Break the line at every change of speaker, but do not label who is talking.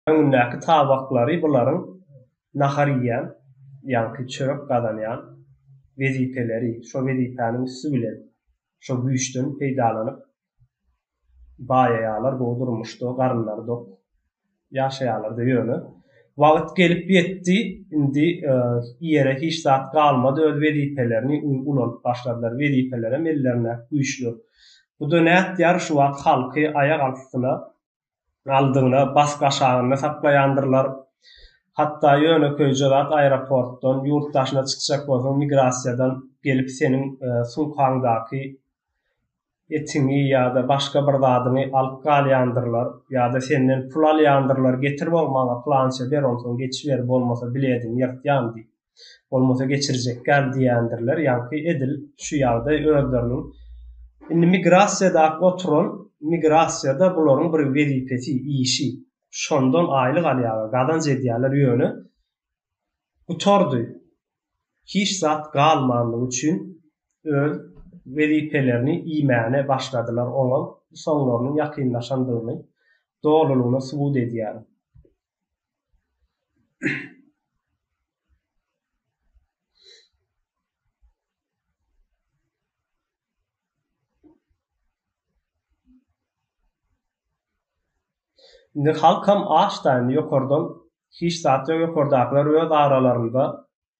Öňündäki tabaklary bularyň nahar iýen, ýaňky çörek gazanýan wezipeleri, şo wezipäniň üsti bilen, şo güýçden peýdalanyp baýaýarlar, gowy durmuşda, garynlary dok ýaşaýarlar-da. Ýöne wagt gelip ýetdi, indi iýere hiç zat galmady, öz wezipelerini ulanyp başladylar. Wezipelerem ellerindäki güýçler. Bu-da nätýär, şu wagt halky aýak altysyna galdygyna bas gaşagynda saklaýandyrlar. Hatda ýönekeýje zat aeroportdan, ýurt daşyna çykjak bolsaň migrasiýadan gelip seniň sumkaňdaky etiňi ýa-da başga bir zadyňy alyp galýandyrlar ýa-da senden pul alýandyrlar, getir bow maňa plança ber onsoň geçiber bolmasa bilediňi ýyrtýan diýip. bolmasa geçirjekgäl diýendirler, ýaňky edil şu ýagdaý özleriniň indi migrasiýada oturan migrasiýada bularyň bir wezipesi, işi, şondan aýlyk alýarlar, gazanç edýärler ýöne gutardy, hiç zat galmandygy üçin öz wezipelerini iýmäne başladylar, oňa soňlarynyň ýakynlaşandygyny dolulygyna subut edýär. Indi halkam aç-da, indi ýokardan hiç zat ýok, ýokardakylar öz aralarynda